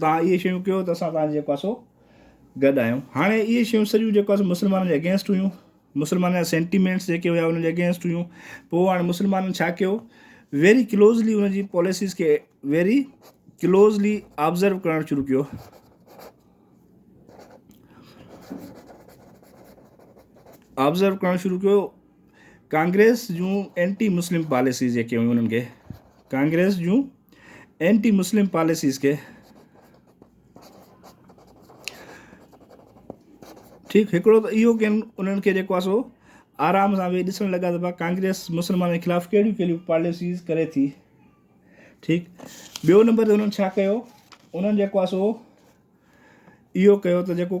توهان اهي شيون ڪيو ته اسان توهان جي جيڪو آهي سو گڏ آهيون هاڻي اهي شيون سڄيون جيڪو آهي سو مسلمانن جي اگينسٽ هيون مسلمانن جا سينٽيمينٽس جيڪي هيا انهن جي اگينسٽ هيون پوء هاڻي مسلمانن ڇا ڪيو ويري ڪلوزلي ان جي پاليسيز کي ويري ڪلوزلي آبزرو ڪرڻ شروع ڪيو آبزرو ڪرڻ شروع ڪيو ڪانگريس جون اينٽي مسلم پاليسيز جيڪي هيون انهن کي ڪانگريس جون اينٽي مسلم پاليسيز کي ٺيڪ هڪڙو ته اهو ڪن انهن کي جيڪو آسو آرام سان ويهي ڏسڻ لڳا ته ڪانگريس مسلمانن خلاف ڪهڙيون ڪهڙيون پاليسيز ڪري ٿي ٺيڪ ٻيو نمبر تي انهن ڇا ڪيو انهن جيڪو آسو اهو ڪيو ته جيڪو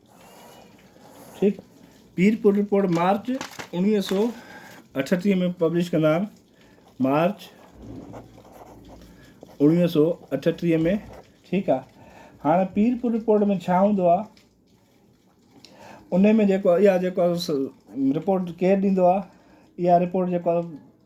ٺيڪ پيرپور رپورٽ مارچ اوڻيهه سو اٺٽيهه ۾ پبلش ڪندا آهن مارچ اوڻيهه سو اٺٽيهه ۾ ٺيڪ آ هاڻي پيرپور رپورٽ ۾ ڇا هوندو آ ان ۾ جيڪو اها جيڪو رپورٽ ڪير ڏيندو آ اها رپورٽ جيڪو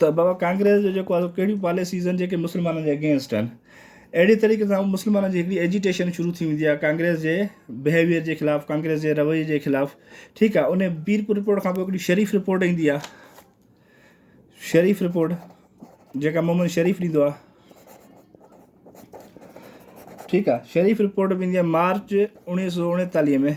ته بابا ڪانگريس جو جيڪو آهي ڪهڙيون پاليسيز آهن جيڪي مسلمانن جي اگينسٽ آهن اهڙي طريقي سان مسلمانن جي هڪڙي ايجيٽيشن شروع ٿي ويندي آهي ڪانگريس جي بهيويئر جي خلاف ڪانگريس جي رويي جي خلاف ٺيڪ آهي ان پيرپور رپورٽ کان پوء هڪڙي شريف رپورٽ ايندي آهي شريف رپورٽ جيڪا محمد شريف ڏيندو آهي ٺيڪ آهي شريف رپورٽ به ايندي آهي مارچ اڻويهه سو اڻيتاليهه ۾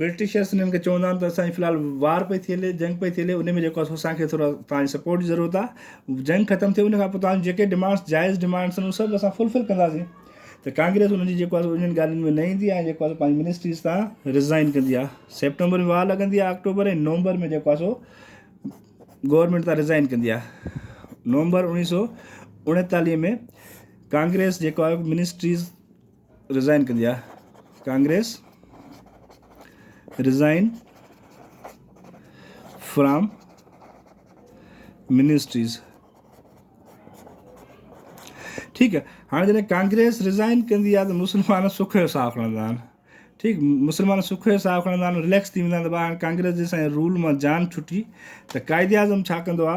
برٽشرس انهن کي چوندا آهن ته اسان جي في الحال وار پئي ٿي هلي جنگ پئي ٿي هلي ان ۾ جيڪو آهي سو اسان کي ٿورا توهان جي سپورٽ جي ضرورت آهي جنگ ختم ٿئي ان کان پوء توهان جون جيڪي ڊمانڊس جائز ڊمانڊس آهن اهي سڀ اسان فلفل ڪنداسين ته ڪانگريس ان جي جيڪو آهي سو انهن ڳالهين ۾ نه ايندي ۽ جيڪو آهي سو پنهنجي منسٽريز تان رزائن ڪندي آهي سيپٽمبر ۾ وار لڳندي آهي آڪٽوبر ۽ نومبر ۾ جيڪو آهي سو گورنمنٽ تان رزائن ڪندي آهي نومبر اوڻيهه سو اڻيتاليهه ۾ ڪانگريس جيڪو آهي منسٽريز رزائن ڪندي آ ڪانگريس رزائن فرام منسٽريز ٺيڪ آ هاڻي جڏهن ڪانگريس رزائن ڪندي آ ته مسلمان سک جو ساهه کڻندا آهن ٺيڪ مسلمان سک جو ساهه کڻندا آهن ريليڪس ٿي ويندا آهن ته هاڻي ڪانگريس جي سائين رول مان جان ڇٽي ته قائد اعظم ڇا ڪندو آ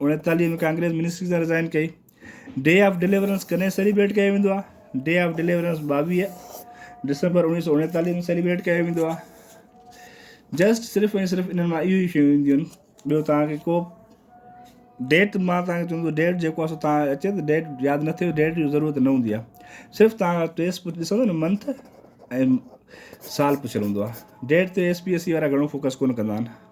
اڻيتاليهه ۾ ڪانگريس منسٽري سان رزائين ڪئي. ڊي آف ڊليورنس ڪڏهن سيليبريٽ ڪيو ويندو آهي؟ ڊي آف ڊليورنس ٻاويهه ڊسمبر اڻويهه سؤ اڻيتاليهه ۾ سيليبريٽ ڪيو ويندو آهي. جسٽ صرف ۽ صرف انهن مان اهيون ئي شيون اينديون آهن. ٻيو توهان کي ڪو ڊيٽ مان توهان کي چوندو ته ڊيٽ جيڪو آهي سو توهان کي اچي ته ڊيٽ ياد نه ٿئي ڊيٽ جي ضرورت نه هوندي آهي صرف توهان ٽي ايس پي ڏسندو نه منٿ ۽ سال پڇيل هوندو آهي ڊيٽ تي ايس پي ايس سي وارا گهڻو فوڪس ڪونه ڪندا آهن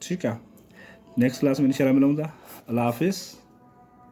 ٺيڪ آ نيڪسٽ ڪلاس ۾ انشاء الله ملون ٿا الله حافظ.